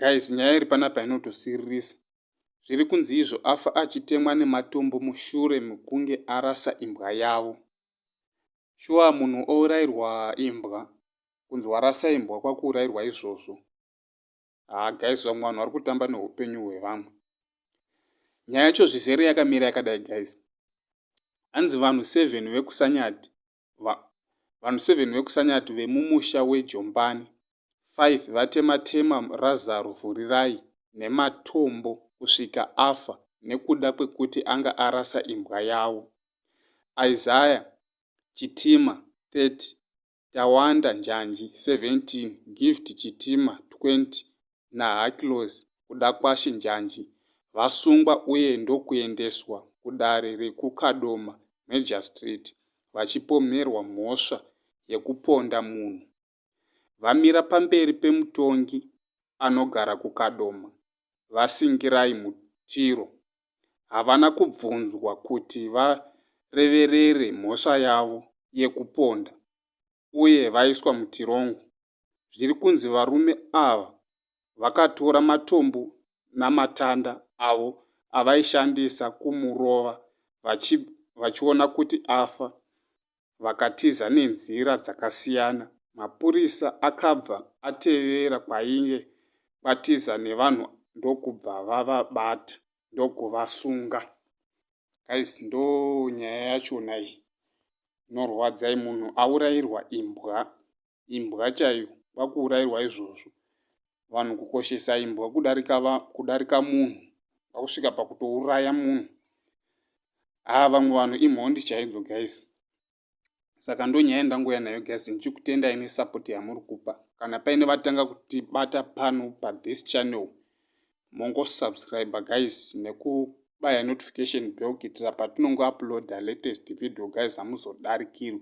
guys nyaya iri panapa inotosiririsa zviri kunzi izvo afa achitemwa nematombo mushure mekunge arasa imbwa yavo shuwa munhu ourairwa imbwa kunzi warasa imbwa kwakuurairwa izvozvo haa guys vamwe vanhu vari kutamba neupenyu hwevamwe nyaya yacho zvizere yakamira yakadai guys hanzi vanhu seven vekusanyati vanhu seven vekusanyati vemumusha wejombani five vatematema razaro vhurirai nematombo kusvika afa nekuda kwekuti anga arasa imbwa yavo isaya chitima 30 Tawanda Njanji, 17, Gift Chitima, 20, naHacklos Kudakwashe Njanji, vasungwa uye ndokuendeswa kudare rekuKadoma Magistrate vachipomerwa mhosva yekuponda munhu. Vamira pamberi pemutongi anogara kuKadoma, VaSingirai Mutiro, havana kubvunzwa kuti vareverere mhosva yavo yekuponda uye vaiswa mutirongo. Zviri kunzi varume ava vakatora matombo namatanda avo avaishandisa kumurova vachiona kuti afa vakatiza nenzira dzakasiyana. Mapurisa akabva atevera kwainge kwatiza nevanhu ndokubva vavabata ndokuvasunga. Guys ndo nyaya yachona iyi inorwadza munhu aurairwa imbwa imbwa chaiyo vakuurairwa izvozvo vanhu kukoshesa imbwa kudarika va, kudarika munhu vakusvika pakutouraya munhu haa ah, vamwe vanhu imhondi chaidzo guys saka ndonyaya ndangouya nayo guys ndichikutendai nesupport yamuri kupa kana paine vatanga kutibata pano pathis channel mongosubscribe guys neku baya notification bell kuitira patinongouploada latest video guys hamuzodarikirwi